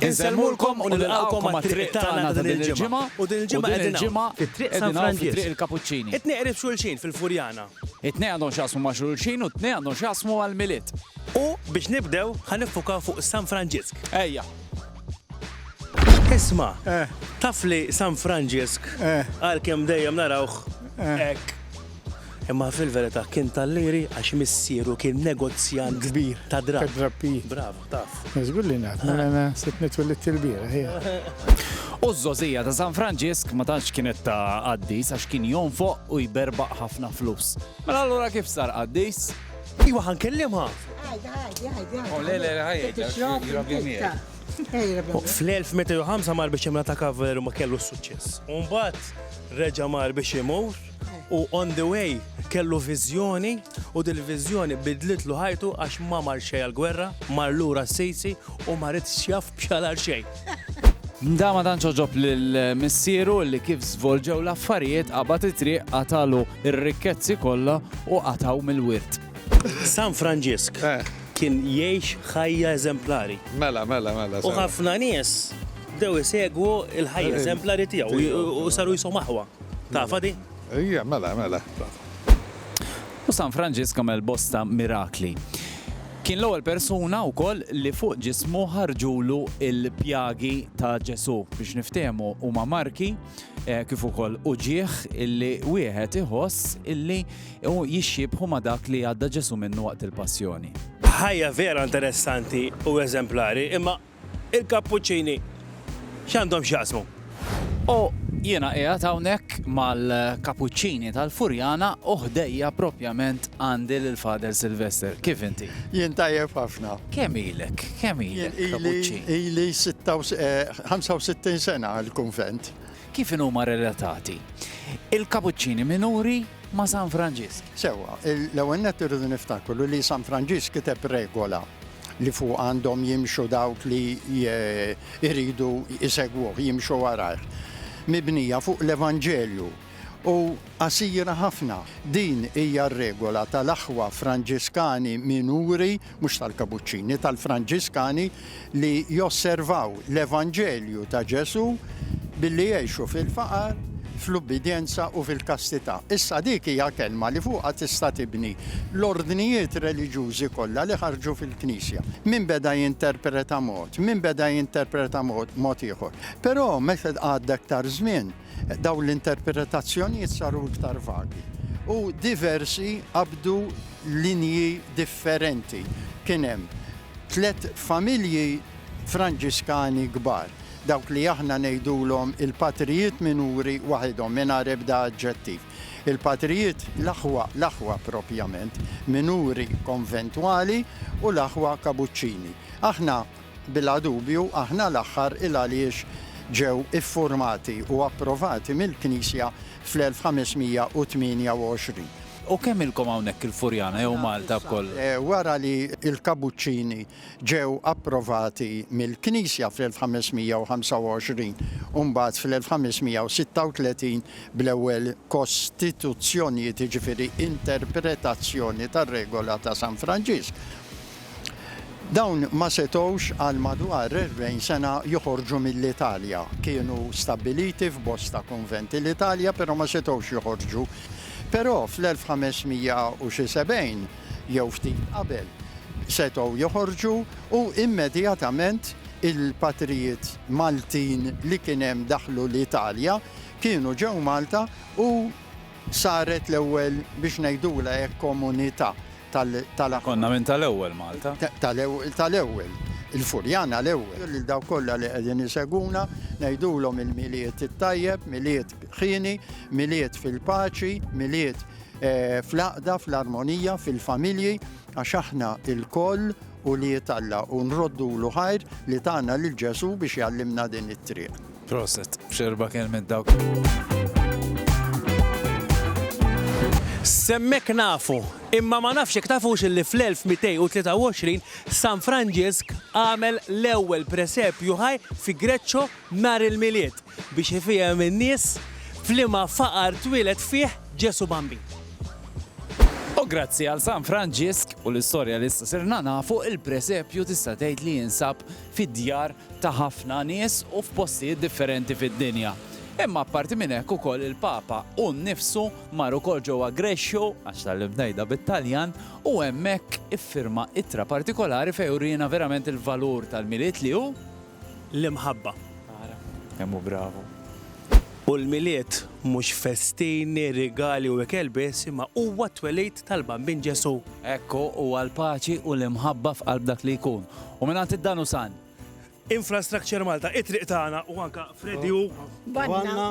Insellmulkom u nilqgħukom għat-triq tagħna ta' din il-ġimgħa u din il-ġimgħa qegħdin hawn fit-Triq San Franġisk. It-tnejn qrib xulxin fil-Furjana. It-tnejn għandhom x'jaqsmu ma' xulxin u t-tnejn għandhom x'jaqsmu mal-Milied. U biex nibdew ħa niffukaw fuq San Franġisk. Ejja. Isma', taf li San Franġisk għalkemm dejjem narawh hekk, imma fil-verità kien tal-Liri għax missieru kien negozjant ta' drapp. Bravo. Taf. Żgur li naf, mela na sitni twillitt il-bieraħ. U z-zozija ta' San Franġisk ma tantx kienet ta' qaddis għax kien jonfoq u jberbaq ħafna flus. Mela allura kif sar qaddis? Iwa ħan kellimha. Għajda, għajda, għajda. U le, le, għajda. Fl-1005 mar biex imla ta' kavaleru ma kellu s-suċċess. Umbat reġa mar biex imur. u on the way kellu viżjoni u dil-viżjoni bidlitlu ħajtu għax ma mar xej għal-gwerra, mar lura s-sejsi u ma rid xjaf bxalar xej. Mda ma tantx oġob lil missieru li kif żvolġew l-affarijiet qabad it-triq qatalu r-rikkezzi kollha u qataw mill-wirt. San Franġisk eh. kien jgħix ħajja eżemplari. Mela, mela, mela. U ħafna nies dew isegwu il-ħajja eżemplari tiegħu u saru jisom aħwa. Tafha di? Ija, mela, mela, tafha. U San Franġisk għamel bosta mirakli. Kien l-ewwel persuna wkoll li fuq ġismu ħarġulu l-pjagi ta' Ġesù. Biex niftehmu huma marki eh, kif ukoll uġieħ illi wieħed iħoss illi jixxibħu ma' dak li għadda Ġesù minnu waqt il-passjoni ħajja vera interessanti u eżemplari, imma Il-kappuċċini x'għandhom x'jaqsmu? U jiena qiegħed hawnhekk mal-kappuċċini tal-Furjana u ħdejja propjament għandi lil Father Sylvester. Kif inti? Jien tajjeb ħafna. Kemm ilek? Kemm ilek kappuċċin? Ili 65 sena l-kunvent. Kif inhuma relatati il-kappuċċini minuri ma' San Franġisk? Sewwa, l-ewwel nett irridu niftakru li San Franġisk kiteb regola li fuqha għandhom jimxu dawk li jridu jsegwuh, jimxu warajh, mibnija fuq l-Evanġelju u qasira ħafna. Din hija r-regola tal-aħwa Franġiskani minuri, mhux tal-Kabuċċini, tal-Franġiskani li josservaw l-Evanġelju ta' Ġesù, billi jgħixu fil-faqar, fl-ubbidjenza u fil-kastità. Issa dik hija kelma li fuqha tista' tibni l-ordnijiet reliġjużi kollha li ħarġu fil-Knisja. Min beda jinterpreta mod, min beda jinterpreta mod, mod ieħor. Però meta għadda iktar żmien, dawn l-interpretazzjonijiet saru iktar vagi u diversi qabdu linji differenti. Kien hemm tliet familji Franġiskani kbar. dawk li aħna ngħidulhom il-patrijiet minuri waħidhom, mingħajr ebda aġġettiv. Il-patrijiet, l-aħwa, l-aħwa proprjament, minuri konventwali u l-aħwa kabuċċini. Aħna, bila dubju, aħna l-aħħar il għaliex ġew iffurmati u approvati mill-Knisja fl-1528. U kemm ilkom hawnhekk il-Furjana jew Malta b'kollox? Wara li l-kabuċċini ġew approvati mill-Knisja fl-1525 u mbagħad fl-1536 bl-ewwel kostituzzjonijiet, jiġifieri interpretazzjoni tar-Regola ta' San Franġisk, dawn ma setgħux għal madwar erbgħin sena joħorġu mill-Italja. Kienu stabbiliti f'bosta kunventi l-Italja, però ma setgħux joħorġu. Però fl-1500 u xi sebgħin, jew ftit qabel, setgħu joħorġu u immedjatament il-patrijiet Maltin li kien hemm daħlu l-Italja, kienu ġew Malta u saret l-ewwel biex ngħidulha hekk komunità tal-Aħwa. Konna minn tal-ewwel Malta. Tal-ewwel. Il-Furjana l-ewwel. Lil dawk kollha li qegħdin isegwuna ngħidulhom il-Milied it-tajjeb, Milied ħieni, Milied fil-paċi, Milied fl-għaqda, fl-armonija, fil-familji, għax aħna lkoll ulied Alla u nroddulu ħajr li tana lil Ġesù biex jgħallimna din it-triq. Proset, x'erba' kelmiet dawk! S'hemmhekk nafu, imma ma nafx jekk tafux illi fl-1223 San Franġisk għamel l-ewwel presepju ħaj fi Greccio nhar il-Milied biex ifiehem in-nies f'liema faqar twieled fih Ġesù Bambin. U grazzi għal San Franġisk u l-istorja li issa sirna nafu, il-presepju tista' tgħid li jinsab fid-djar ta' ħafna nies u f'postijiet differenti fid-dinja. Imma apparti minn hekk ukoll il-Papa hu nnifsu mar ukoll ġewwa Grescio, għax tgħallimt ngħidha bit-Taljan, u hemmhekk iffirma ittra partikolari fejn uriena verament il-valur tal-Milied li hu, l-imħabba. Ara, kemm hu bravu! U l-Milied mhux festini, rigali u ikel biss, imma huwa t-twelid tal-Bambin Ġesù. Hekk hu, huwa l-paċi u l-imħabba f'qalb dak li jkun. U mingħand id-Dan u San. Infrastructure Malta, it-triq tagħna u anke Freddie u. Banna.